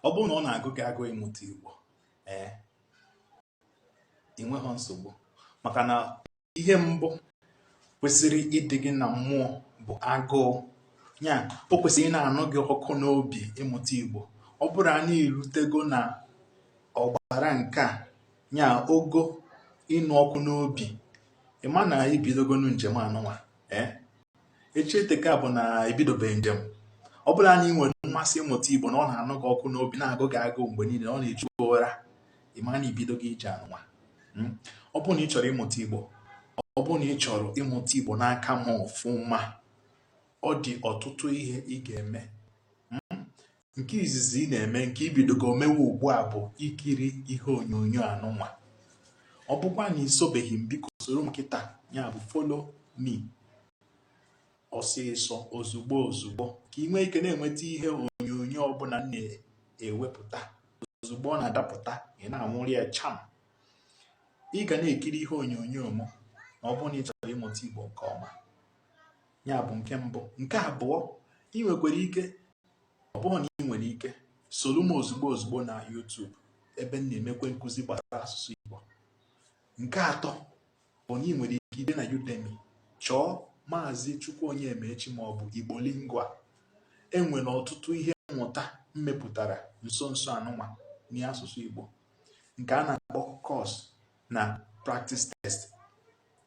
ọ bụrụ na ọ na-agụ gị agụụ ịmụta igbo ee ị nweghị nsogbu maka na ihe mbụ kwesịrị ịdị gị na mmụọ bụ agụụ ya o kwesịrị ị na-anụ gị ọkụ n'obi ịmụta igbo ọ bụrụ na i rutego na ọgbara nke a ya ogo ịnụ ọkụ n'obi ịma na ibidogonu njem anụnwa ee echi eteka bụ na ibidobeghị njem ọ bụrụ na ị nwere mmasị ịmụta igbo na ọ na-anụ gị ọkụ n'obi na-agụ gị agụụ mgbe niile ọ na-echu ụra ịma na ibidogo ije anụnwa hmm? ọ bụrụ na ị chọrọ ịmụta igbo ọ bụrụ na ị chọrọ ịmụta igbo n'aka m ọfụma ọ dị ọtụtụ ihe ị ga-eme hmm? nke izizi ị na-eme nke ibidogo omewe ugbu a bụ ikiri ihe onyonyo anụnwa ọ bụkwa na isobeghị m biko soro m kịta ya bụ follow me ọsịsọ ozugbo ozugbo ka ị nwee ike na-enweta ihe onyonyo ọbụla m na-ewepụta ozugbo ọ na-adapụta ị na-anwụrụ ya cham ị ga na-ekiri ihe onyonyo m na ọ bụrụ na ị chọrọ ịmụta Igbo nke ọma ya bụ nke mbụ nke abụọ ị nwekwara ike ọ bụrụ na ị nwere ike soro m ozugbo ozugbo na YouTube ebe m na-emekwe nkụzi gbasara asụsụ Igbo nke atọ bụ na ị nwere ike ije na Udemy chọọ maazị Chukwu Onyemaechi ma ọ bụ Igbo Lingua enwere ọtụtụ ihe mmụta m mepụtara nso nso anụnwa n'asụsụ Igbo nke a na-akpọ course na practice test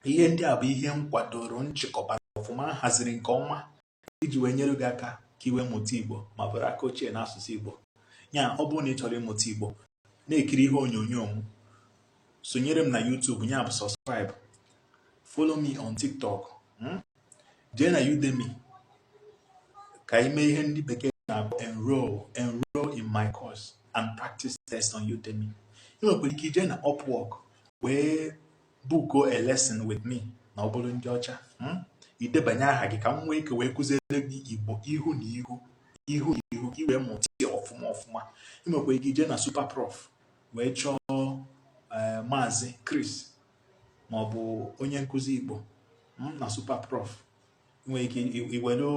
ihe ndị a bụ ihe m kwadoro m chịkọbara ọfụma m haziri nke ọma iji wee nyere gị aka ka i wee mụta igbo ma bụrụ aka ochie n'asụsụ igbo ya ọ bụrụ na ị chọrọ ịmụta igbo na-ekiri ihe onyonyo m sonyere m na YouTube ya bụ subscribe follow me on TikTok hmm? jee na Udemy ka ị mee ihe ndị bekee na-akpọ enroll enroll in my course and practice test on Udemy ị nwekwara ike ije na Upwork wee book a lesson with me na ọ bụrụ ndị ọcha hmm? idebanye aha gị ka m nwee ike wee kụziere gị igbo ihu na ihu ihu na ihu ka i wee mụta ya ọfụma ọfụma ị nwekwa ike ije na Superprof wee chọọ eh, maazị Chris ma ọ bụ onye nkụzi igbo hmm, na Superprof nwere ike iwere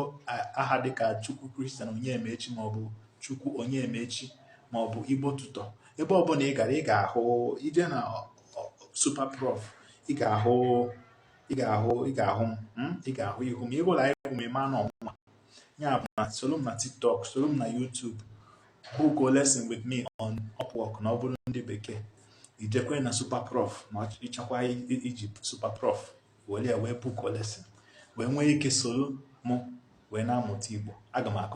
aha dịka chukwu christian onyemaechi maọbụ chukwu onyemaechi maọbụ igbo tutor ebe ọbụla ị gara ị ga-ahụ ije na superprof ị ga-ahụ ị ga-ahụ ị ga-ahụ m hmm? ị ga-ahụ ihu m ịhụla ihu m ịma na ọ mụwa ya bụ na soro m na tiktok soro m na youtube book a lesson with me on upwork na ọ bụrụ ndị bekee ijekwe na superprof ma ịchọkwa iji superprof were ya wee book a lesson wee nwee ike soro mụ wee na-amụta Igbo aga m akụzi